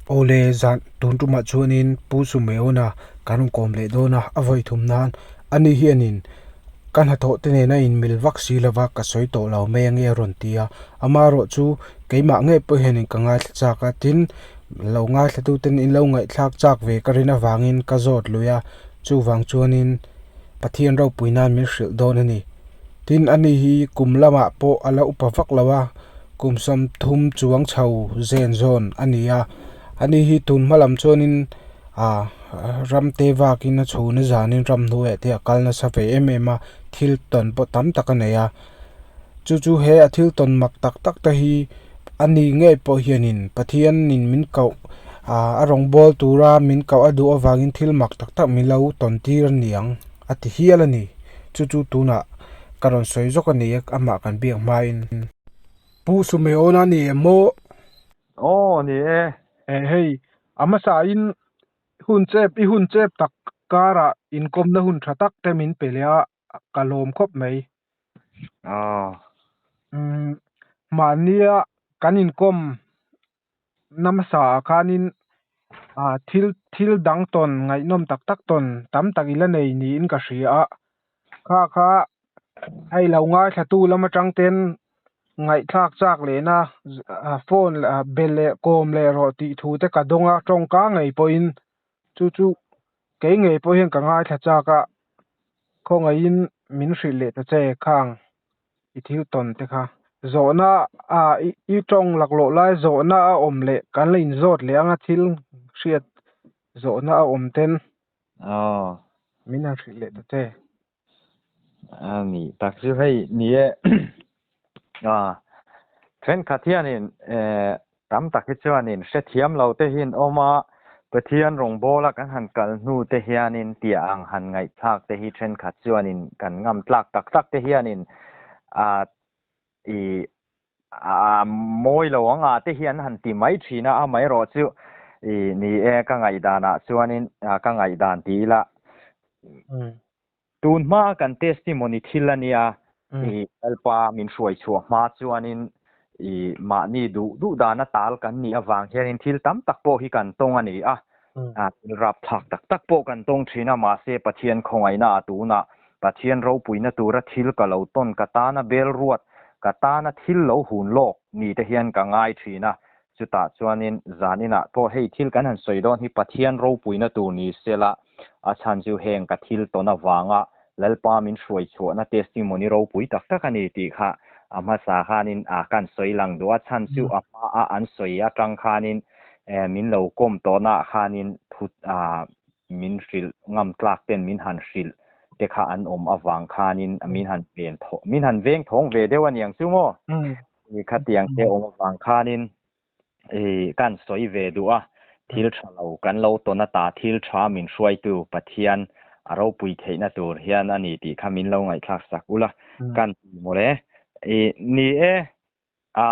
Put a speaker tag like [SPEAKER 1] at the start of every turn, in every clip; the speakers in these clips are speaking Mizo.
[SPEAKER 1] Aw le, zan tun tumah chuan in Pu Sumeona kan rawn kawm leh dawn a, a vawi thum nan a ni hian in ka hnathawh te nena in mil vak si lo va, ka sawi tawh lo mai ang i a rawn ti a, ama erawh chu keimah ngei pawh hian in ka ngaithla chak a, tin lo ngaihlatute in lo ngaihthlak chak ve ka rin avangin ka zawt lui a, chuvang chuanin Pathian ropui nan min hrilh dawn a ni. Tin, ani hi kum lamah pawh a la upa vak lo a, kum sawmthum chuang chho zen zawn a ni a. Ani hi tun hma lam chuanin ah ram te vakin a chhuna zanin ramhnuaihte a kal nasa ve em em a, thil tawn pawh tam tak a nei a. Chu chu he a thil tawn mak tak tak te hi a ni ngei pawh hianin Pathianin min koh a rawngbâwl tûra min koh a duh avângin thil mak tak tak min lo tawn tîr a ni ang a ti hial a ni. Chu chu tûnah ka rawn sawi zawk a ni e, amah kan biak hmain. Pu Sumeona ni em maw? Aw, a ni e. Eh hei, a hmasain hun chep i hun chep tak kârah inkawmna hun ṭha tak te min pe leh a, ka lawm khawp mai aw umm mahnia kan inkawm namasa ah khanin ah thil thil dang tawn ngaihnawm tak tak tawn tam tak ila nei niin ka hria a kha kha hei lo ngaithlantu lam atang ten ngaihthlak chak lehna ah phone leh ah bel leh kawm leh rawh tih thu te ka dawng a tawngka ngei pawhin chu chu Kei ngei pawh hian ka ngaithla chak a, khawngaihin min hrilh leh ta che khang i thil tawn te kha. Zawhna a i tawng laklawh lai zawhna a awm leh kan la inzawt leh anga thil hriat zawhna a awm ten min han hrilh leh ta che. Ani tak chu hei ni e a thenkhat hianin e tam tak hi chuanin hrethiam lo te hian awm a Pathian rawngbawla kan han kal hnu te hianin tia ang han ngaihthlak te hi thenkhat chuanin kan ngam tlak tak tak te hianin a i Mawi lo anga te hian han ti mai thin a, a mai rawh chu i ni e, ka ngaihdanah chuanin ka ngaihdan ti ila. Tun hma kan testimony thil a nia, i Lalpa min hruai chhuah hma chuanin i mahni duh duh dana tal kan nih avang hianin thil tam tak pawh hi kan tawng a ni a. a thil rapthlak tak tak pawh kan tawng thin a mahse Pathian khawngaihna a tuna Pathian ropuina tura thil ka lo tawn ka tana bel ruat ka tana thil lo hun lawk ni te hian ka ngai thin a chutah chuanin zan inah pawh hei thil kan han sawi dawn hi Pathian ropuina tur ni sela a chhanzio heng ka thil tawn avanga Lalpa min hruai chhuahna testimony ropui tak tak a ni tih kha a hmasa khanin a kan sawi lang duh a, chhan chu a hma a an sawi atang khanin min lo kawm tawnah khanin thut min hrilh ngam tlak ten min han hrilh te kha an awm avang khanin min han ven thawng min han veng thawng ve deuh a niang chu maw? Tih kha tiang te awm avang khanin kan sawi ve duh a, thil tha lo kan lo tawn ata thil tha min hruaitu Pathian a ropui theihna tur hian a ni tih kha min lo ngaihthlak sak ula kan ti maw le? I ni e, a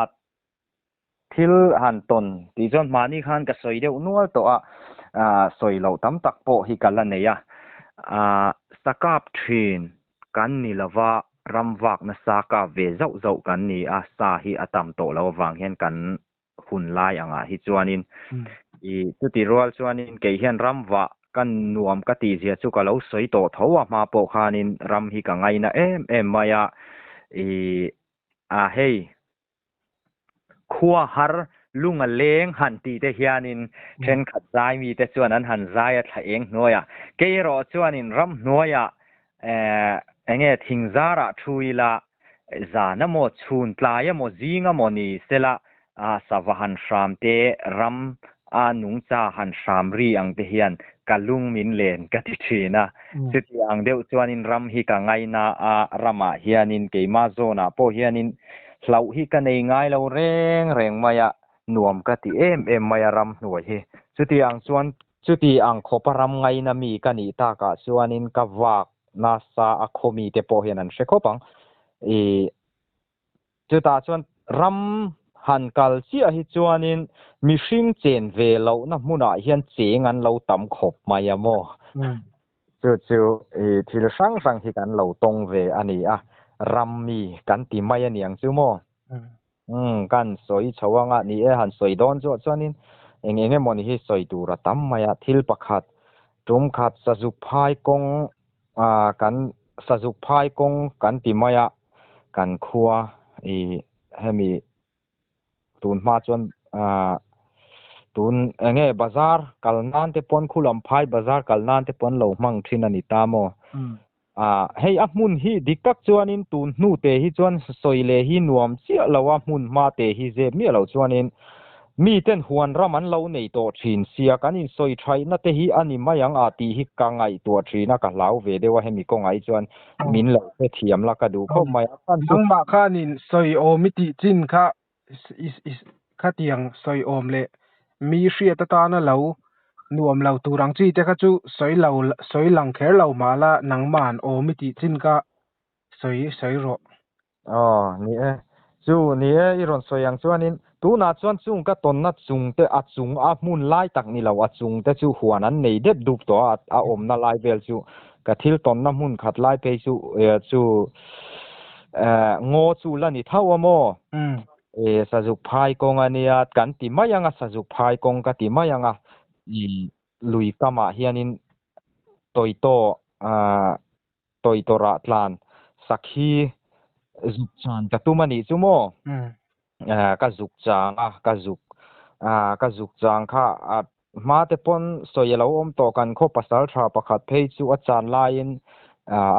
[SPEAKER 1] thil han tawn tih chuan mahni khan ka sawi deuh nual tawh a, sawi loh tam tak pawh hi ka la nei a, sakap thin Kan ni lo va, ram vak nasa ka ve zauh zauh kan ni a, sa hi a tam tawh lo avang hian kan hun lai angah hi chuanin i chuti rual chuanin kei hian ram vah ka nuam ka tihzia chu ka lo sawi tawh tho a, hma pawh khanin ram hi ka ngaina em em mai a, i a hei Khua har lung a leng han tihte hianin thenkhat zai mite chuan an han zai a thla eng hnuai a, keirawh chuanin ram hnuaia eng nge thingzarah thu ila zan amaw, chhun tlai amaw, zing amaw ni sela sava han hramte ram A nungcha han hram ri ang te hian ka lung min len ka ti thin a. Chuti ang deuh chuanin ram hi ka ngai na a, ramah hianin keimah zawnah pawh hianin hlauh hi ka nei ngai lo reng reng mai a, nuam ka ti em em mai a ram hnuai hi. Chuti ang chuan chuti ang khawpa ram ngai na mi ka nih takah chuanin ka vak nasa a khaw mite pawh hian an hre khawp ang. I Chutah chuan ram han kal chiah hi chuanin mihring chen ve lohna hmunah hian cheng an lo tam khawp mai a maw? Chu chu i thil hrang hrang hi kan lo tawng ve a ni a, ram mi kan ti mai a niang chu maw? Ka han sawi chho ang a, ni e, han sawi dawn zawh chuanin eng eng emaw ni hi sawi tur a tam mai a, thil pakhat, tumkhat, sazuk phai kawng A kan sazuk phai kawng kan ti mai a kan khua i hemi tun hma chuan a tun enge bazar kal nan te paw'n khulam phai bazar kal nan te paw'n lo hmang thin a ni ta maw a hei a hmun hi dik tak chuanin tun hnute hi chuan sawi leh hi nuam chiah lo a hmun hma te hi zep miah lo chuanin Miten huan ram an lo nei tawh thin sia kan insawi thaihna te hi a ni mai ang a tih hi ka ngaihtuah thin a, ka hlau ve deuh a hemi kawngah hi chuan min lo hre thiam la ka duh khawp mai a chuan chu Nangmah khanin sawi awm i tih chin kha i khatiang sawi awm leh mi hriat atana lo nuam lo tur ang chi te kha chu sawi lo sawi lang kher lo mah la nangma'n awm i tih chin kha sawi sawi rawh. Aw, ni e. Chu, ni e, i rawn sawi ang chuanin, tunah chuan chung ka tawnna chungte a chung a hmun lai tak ni lo a chungte chu huan an nei dep dup tawh a, a awmna lai vel chu ka thil tawnna hmun khat lai phei chu chu ngaw chu la ni thauh a maw? E, Sazuk phai kawng a nia, kan ti mai anga Sazuk phai kawng ka ti mai anga. Lui kamah hianin tawitaw Toitorah tlan sakhi zuk chuan ka tum a nih chu maw? Ka zuk chang a, ka zuk. Ka zuk chang kha a hma te pawn sawi a lo awm tawh kan khaw pasal tha pakhat phei chu a chan laiin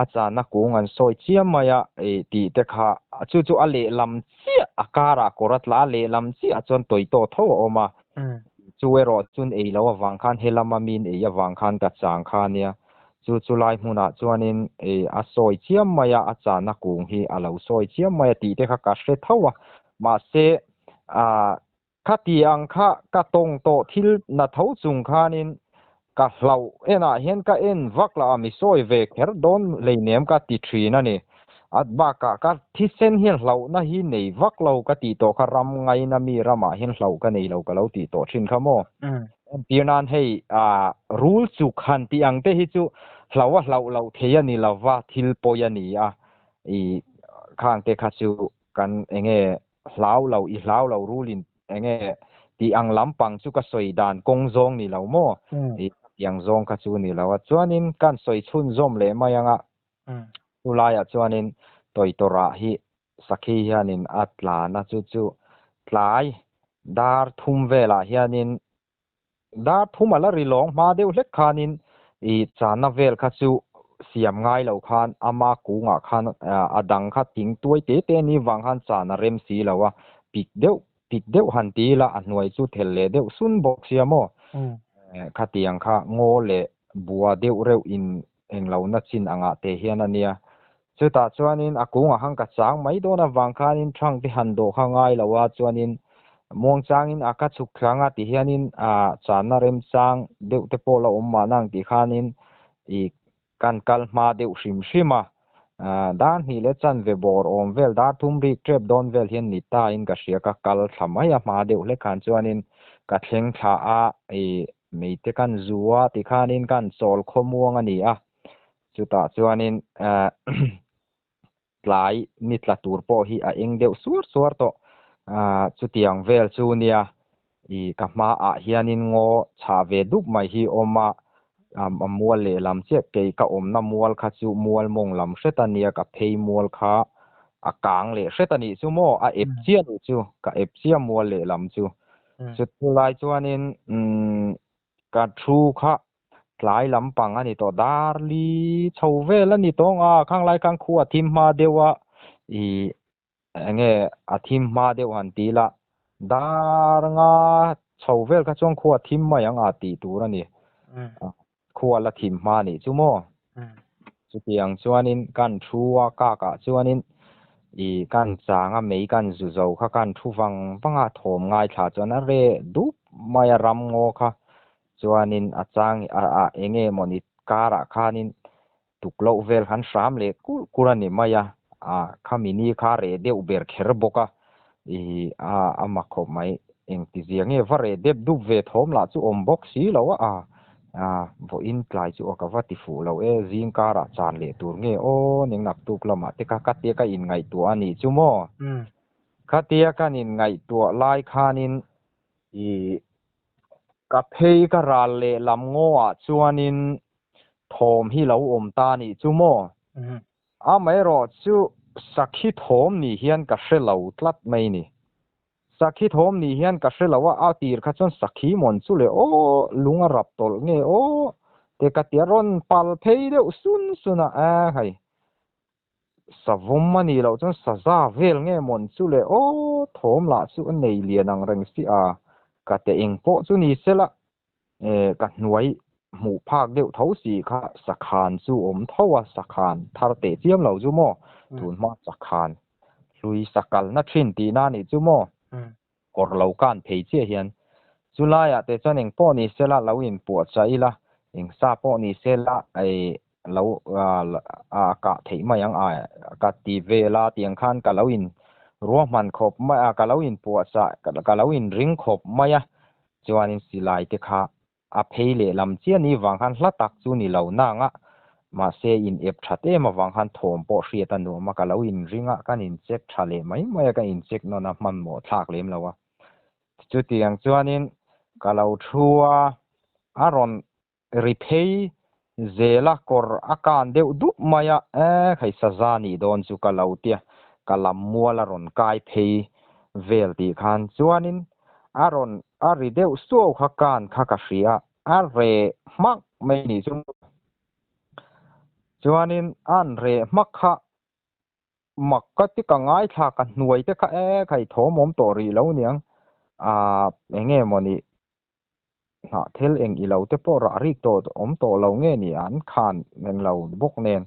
[SPEAKER 1] a channa kung an sawi chiam mai a tih te kha chu chu a lehlam chiah a karah kawr a tla a, lehlam chiah chuan toito tho a awm a. Chu erawh chun ei lo avang khan he lama min ei avang khan ka chang kha nia Chu chu lai hmunah chuanin i a sawi chiam mai a, a chana kung hi a lo sawi chiam mai a tih te kha ka hre tho a, mahse ah khati ang kha ka tawng tawh thil na tho chung khanin ka hlauh enah hian ka en vak la a mi sawi ve kher dawn hleinem ka ti thin a ni. At bakah ka thisen hian hlauhna hi nei vak lo ka tih tawh kha ram ngaina mi ramah hian hlauh ka nei lo ka lo tih tawh thin kha maw. Entir nan hei rul chuk han tih ang te hi chu hlauh a hlauh loh thei a ni lo va, thil pawi a ni a, i khang te kha chu kan enge hlau lo i hlau lo rul in enge tih ang lampang chu ka sawi dan kawng zawng ni lo maw, i ka tih ang zawng kha chu ni lo a. Chuanin kan sawi chhun zawm leh mai anga Chu laiah chuanin Toitorah hi sakhi hianin a tla na chu chu tlai dar thum velah hianin dar thum a la ri lawng hma deuh hlek khanin i chana vel kha chu siam ngai lo khan ama kungah khan a dang kha ting tuai te te ni vang khan chan a rem si lo a, pik deuh pik deuh han ti ila a hnuai chu thel leh deuh sun bawk sia maw? Khatiang kha ngaw leh bua deuh reuhin englohna chin angah te hian a nia. Chutah chuanin a kung ahang ka chang mai dawn avang khanin Trunk te han dawh kha ngai lo a chuanin Muangchangin a ka chhuk thlang a ti hianin ah channa remchang deuh te pawh la awm mahna ang tih khanin i kan kal hma deuh hrim hrim a. Ah dar hnih leh chanve bawr awm vel dar thum rik tep dawn vel hian ni tain ka hria ka kal thla mai a hma deuh hlekhan chuanin ka thleng thla a i Mei te kan zu a ti khanin kan chawl khaw muang a ni a, chutah chuanin tlai ni tla tur pawh hi a eng deuh suar suar tawh, chutiang vel chu nia i ka hma ah hianin ngaw chhah ve dup mai hi awm a, a mual lehlam chiah kei ka awmna mual kha chu mual mawng lam hret a nia ka phei mual kha a kang leh hret a nih chu maw a ep chiah a nih chu ka ep chiah mual lehlam chu Chutulai chuanin ka thu kha tlai lampang a ni tawh dar li chho vel a ni tawng a, khanglai khan khu a thim hma deuh a, i eng nge a thim hma deuh han ti la, dar nga chho vel kha chuan khu a thim mai ang a tih tur a ni. Khua la thim hma nih chu maw? Chutiang chuanin kan thu a kakah chuanin i kan changa mei kan zu zo kha kan thu vang vanga thawm ngaithla chuan a re dup mai a ram ngaw kha chuanin a chang a eng nge mawni karah khanin Tukloh vel han hram leh kur kur a ni mai a, ah khami ni kha reh deuh ber kher bawk a, ih ah a mak khawp mai, engti zia nge va reh dep dup ve thawm lah chu awm bawk si lo a, ah ah vawiin tlai chu a ka va ti fuh lo e, zing karah chan leh tur nge aw ningnak tuk lamah te kha khatia ka in ngaihtuah a nih chu maw, khatia kan in ngaihtuah lai khanin ih Ka phei ka ral leh lam ngawah chuanin thawm hi lo awm ta nih chu maw? Amaherawh chu Sakhi thawm nih hian ka hre lo tlat mai ni. Sakhi thawm nih hian ka hre lo a, a tir kha chuan Sakhi mawn chu leh aw, lung a rap tawlh nge aw, te ka ti a, rawn pal phei deuh sun suna, a hai. Savawm a nih loh chuan saza vel nge mawn chu le aw thawm lah chu a nei lian ang reng si a, ka te eng pawh chu ni se la eh ka hnuai hmuh phak deuh tho si kha sakhan chu awm tho a sakhan thar teh chiam lo chu maw tun hma sakhan hlui sakalna thin tihna a nih chu maw Kawr lo kan phei chiah hian chu laiah te chuan eng pawh ni sela lo in puah chah ila, eng sa pawh ni sela ai lo a kah theih mai ang a ka ti vel a tiang khan ka lo in ruahman khawp mai a ka lo in puah chah ka lo in ring khawp mai a chuan in silai te kha A phei leh lam chiah ni vang khan hla tak chu ni lo nang a, mahse in ep that em avang khan thawm pawh hriat a nuam a, ka lo in ring a, kan in check tha leh mai mai a, ka in check nawn a hmanhmawh thlak lem lo a, chutiang chuan in ka lo thu a, a rawn ri phei Zela kawr a kan deuh dup mai a, eh Khaisazaa nih dawn chu ka lo tia, ka lam mual a rawn kai phei vel tih khan chuanin a rawn a ri deuh suau kha kan kha ka hria, a re hmak mai nih chu chuanin an re hmak kha mak ka ti ka ngaithlak a hnuai te kha eh Khai thawmawm tawh rih lo niang, ah eng nge maw ni hlah thel eng ilo te pawh rah rik tawh awm tawh lo nge ni an khan eng lo bawk nen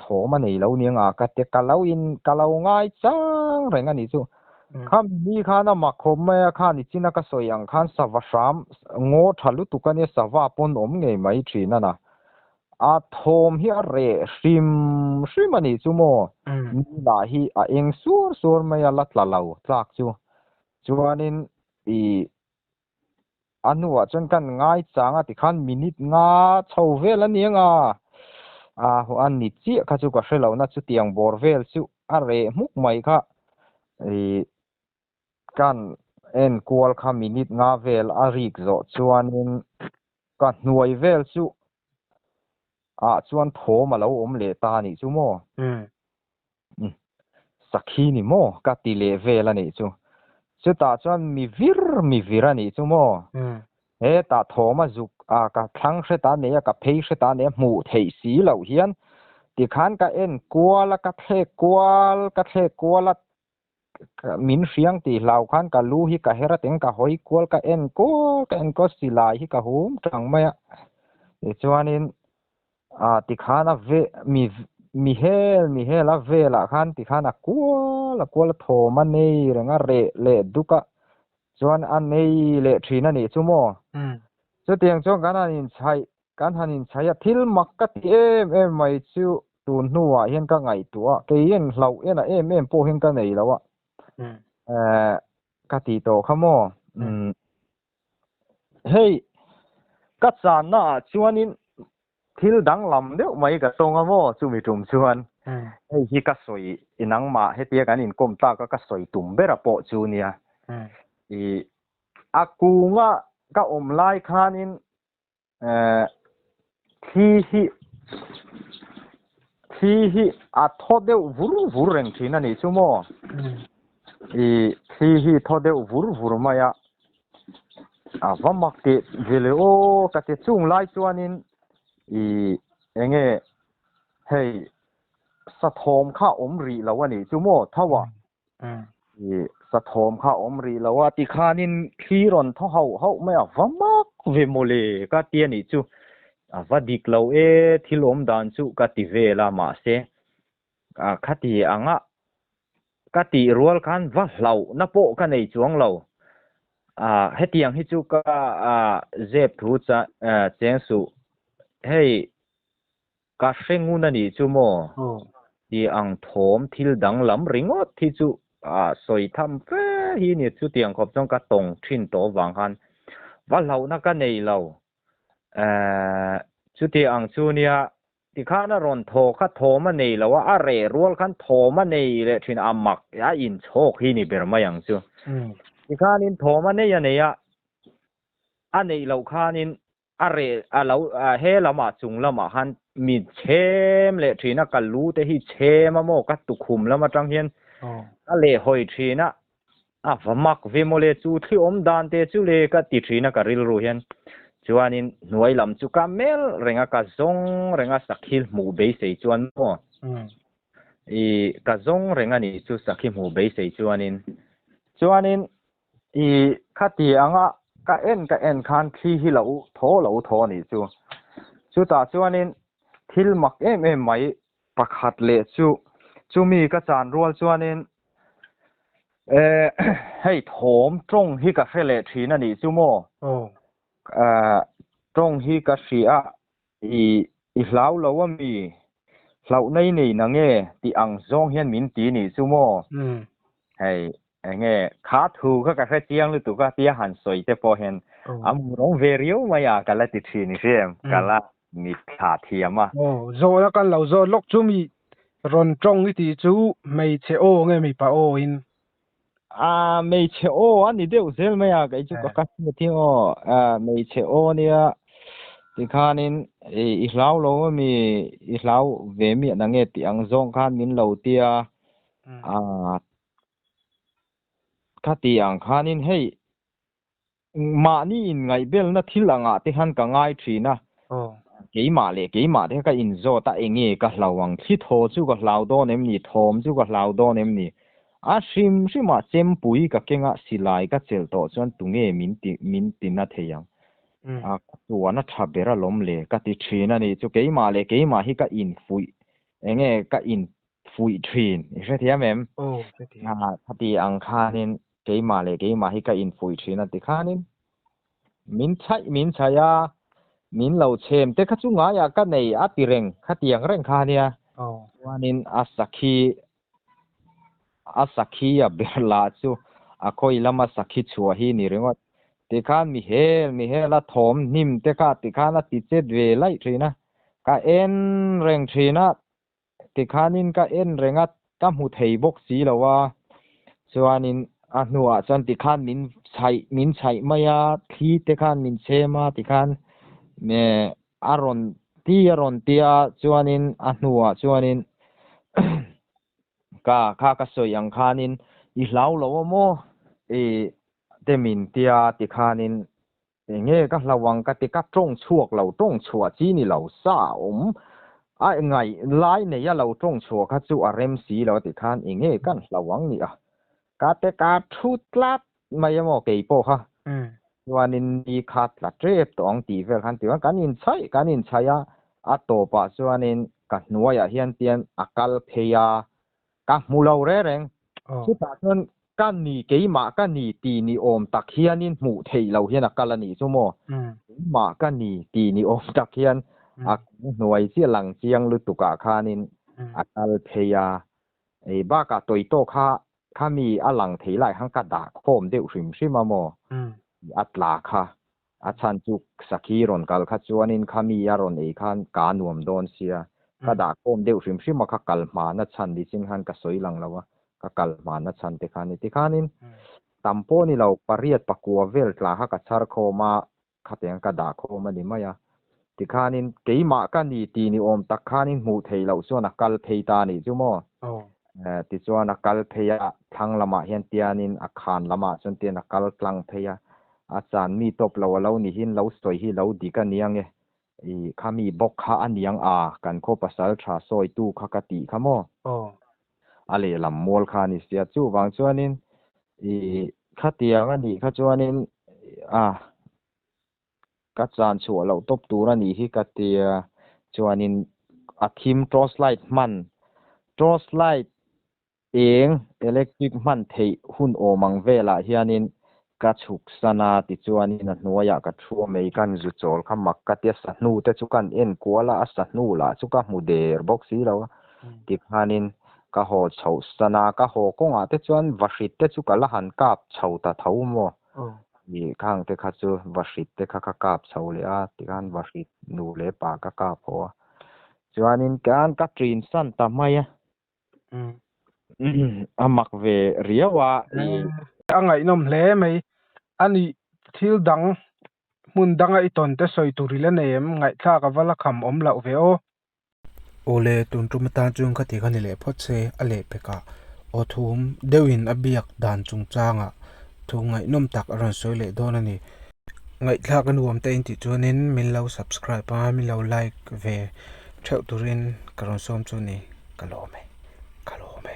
[SPEAKER 1] thawm a nei lo ni anga ka te ka lo in ka lo ngai chang reng a ni chu kha mimi khan a mak khawp mai a khan i chin a ka sawi ang khan sava hram ngaw tha lutuk a nia sava pawn awm ngei mai thin a na a thawm hi a reh hrim hrim a nih chu maw ni lah hi a eng suar suar mai a la tla lo tlak chu chuanin Pi a hnuah chuan ka han ngaichang a tikhan minute nga chho vel a ni anga a a ni chiah kha chu ka hre lohna chutiang bawr vel chu a reh hmuk mai kha ih ka han enkual kha minute nga vel a rik zawh chuanin ka hnuai vel chu ah chuan thawm a lo awm leh ta a nih chu maw. Umm. Sakhi ni maw? Ka ti leh vel a nih chu. Chutah chuan mi vir mi vir a nih chu maw? Hetah Thawma zuk a ka thlang hre ta nei a, ka phei hre ta nei a, hmuh theih si loh hian tikhan ka en kual a, ka thlek kual, ka thlek kual a. Min hriang tih hlau khan ka lu hi ka her atin ka hawi kual ka en kual ka en kual silai hi ka hum tang mai a tichuanin a tikhan a ve mi mi hel mi hela velah khan tikhan a kual a kual a thawm a nei reng a reh leh duk a chuan a nei leh thin a nih chu maw chutiang chuan kan han inchhaih Kan han inchhai a, thil mak ka ti em em mai chu tun hnuah hian ka ngaihtuah a, kei en hlauh en a em em pawh hian ka nei lo a, eh ka tih tawh kha maw, umm hei ka channaah chuanin thil danglam deuh mai ka tawng a maw chumi tum chuan hei hi ka sawi nangmah hetia kan inkawm tak a ka sawi tum ber a pawh chu nia, ih a kung a ka awm lai khanin thli hi thli hi a tho deuh vur vur reng thin a nih chu maw i thli hi tho deuh vur vur mai a a va mak ti vele o ka ti chung lai chuanin i enge hei sa thawm kha awm rih lo a nih chu maw tho a i sathawm kha awm rih lo a ti khanin thli rawn thaw hauh hauh mai a va mak ve maw le ka ti a nih chu a va dik lo e thil awm dan chu ka ti vel a mahse a khati anga ka ti rual khan va hlauh na pawh ka nei chuang lo a hetiang hi chu ka a zep thu cha cheng su hei Ka hre ngun a nih chu maw? Hi ang thawm thil danglam ringawt hi chu a sawi tham fe hi ni chutiang khawp chuan ka tawng thin tawh avang khan va hlauhna ka nei lo eh chuti ang chu nia tikhan a rawn thaw kha thawm a nei lo a a reh rual khan thawm a nei leh thin a mak a inchhawk hi ni ber mai ang chu tikhanin thawm a nei a nei a a neih loh khanin a re a lo he lama chung lama han mi chhem le thin a kal lu te hi chhem a maw ka tukhum lam atang hian a le hoi thin a a vamak ve mo le chu thli om dan te chu le ka ti thin a ka ril ru hian chuanin hnuai lam chu ka mel renga ka zong renga sakhi hmu bei sei chuan mo i ka zong renga ni chu sakhi hmu bei sei chuanin chuanin Ti kha ti ang a, ka en ka en khan thli hi lo thaw lo thaw a nih chu. Chutah chuanin thil mak em em mai pakhat leh chu chumi ka chan rual chuanin e hei thawm tawng hi ka hre leh thin a nih chu maw? Aw. Aw, tawng hi ka hria I i hlau lo a mi? Hlauh nei nei na nge? tih ang zawng hian min ti nih chu maw? Hei, enge kha thu kha ka hre chiang lutuk a, tia han sawi te pawh hian a murang ve riau mai a ka la ti thin i hriam, ka la mit thla thiam a. Aw, zawh la kan lo zawt lawk chu mi rawn tawng i ti chu hmeichhe aw nge mipa aw in mei che o ani deu zel mai a kai chu ka ka ti ti o mei che o nia ti khan in i hlau lo mi i hlau ve mi na nge ti ang zong khan min lo tia a kha ti ang khan in hei Mahni in ngaihbelna thil angah te khan ka ngai thin a, keimah leh keimah te ka inzawt a, enge ka hlau ang? Thli thaw chu ka hlau dawn em ni? Thawm chu ka hlau dawn em ni? A hrim hrimah chempui ka keng a, silai ka chelh tawh chuan tunge min ti min ti na thei ang? A ka tuan a tha ber alawm le ka ti thin a nih chu, keimah leh keimah hi ka infuih enge ka in fuih thin i hrethiam em khati ang khanin keimah leh keimah hi ka infuih thin a ti khanin min chhaih min chhaih a min lo chhem te kha chu ngaia ka nei a ti reng khati ang reng kha nia chuanin a sakhi a sakhi a berla chu a khoi lama sakhi chua hi ni ringawt ti khan mi hel mi hel a thawm hnim te kha ti khan a ti chet ve laih thin a ka en reng thin a Tikhanin ka en reng a, ka hmu thei bawk si lo a, chuanin a hnuah chuan tikhan min chhaih min chhaih mai a, thli te khan min chhem a tikhan a rawn ti a rawn ti a, chuanin a hnuah chuanin ka kha ka sawi ang khanin i hlau lo a maw? Te min ti a tikhanin Eng nge ka hlau ang ka ti ka tawng chhuak lo tawng chhuah chi ni lo sa a awm a ngaih lai nei a lo tawng chhuah kha chu a rem si lo a ti khan eng nge kan hlau ang nia ka te ka thu tlat mai emaw kei pawh kha chuanin ni kha tla tep tawh ang tih vel khan ti vang kan in chhaih kan in chhaih a a tawpah chuanin ka hnuaiah hian pian a kal phei a Ka hmu lo rereng. Chutah chuan ka ni keimah ka ni ti ni awm tak hianin hmuh theih lo hian a kal a nih chu maw? Keimah ka ni ti ni awm tak hian a kal hnuai chiah lang chiang lutukah khanin a kal phei a. Ei bakah tawitawk kha khami a lang thei lai khan ka dah khawm deuh hrim hrim a maw? Tih a tla kha. A chhanchuk sakhi rawn kal kha chuanin khami a rawn ei khan kaa nuam dawn sia, ka dah khawm deuh hrim hrim a, kha kal hma na chhan ni chin khan ka sawi lang lo a, ka kal hma na chhan te khan ni. Tikhanin tam pawh ni lo pariat pakua vel tla kha ka chhar khawm a, khatiang ka dah khawm a ni mai a, Tikhanin, keimah ka ni tih ni awm tak khan in hmuh theih loh chuan a kal phei ta nih chu maw? Tichuan a kal phei a, thlang lamah hian Tianin a khan lamah chuan Tian a kal tlang phei a. A chan mi tawp lo a lo nih hi in lo sawi hi lo dik a niang e. I, khami bawk kha a niang a, kan khaw pasal tha sawitu kha ka tih kha maw? A lehlam mual kha a ni sia. Chuvang chuanin, i, khatiang a nih kha chuanin, a, Ka chan chhuah loh tawp tur a nih hi ka tia chuanin a thim torch light hman. Torch light eng electric hman theih hun awm ang velah hianin ka chhuk san a tichuanin a hnuaiah ka thu a mei kan zu chawl kha mak ka tia sahnu te chu kan en kual a a sahnu lah chu ka hmu der bawk si lo a tikhanin ka haw chhoh san a ka haw kawngah te chuan va hrit te chu ka la han kap chho ta tho maw mi khang te kha chu va hrit te kha ka kap chho leh a tikhan va hrit nu leh pa ka kap haw a chuanin kan ka trin san ta mai a a mak ve riau a a ngaihnawm hle mai a ni thil dang hmun danga i tawnte sawi tur ila nei em? Ngaihthlak a vala kham awm loh ve aw. Awle, tun tum atan chuan kha ti kha ni leh phawt se, a leh pek a. Aw thum deuhin a biak dan chungchanga thu ngaihnawm tak a rawn sawi leh dawn a ni. Ngaihthlak a nuam ta in tih chuanin min lo subscribe a, min lo like ve theuh turin ka rawn sawm chu a ni. Ka lawm e, ka lawm e.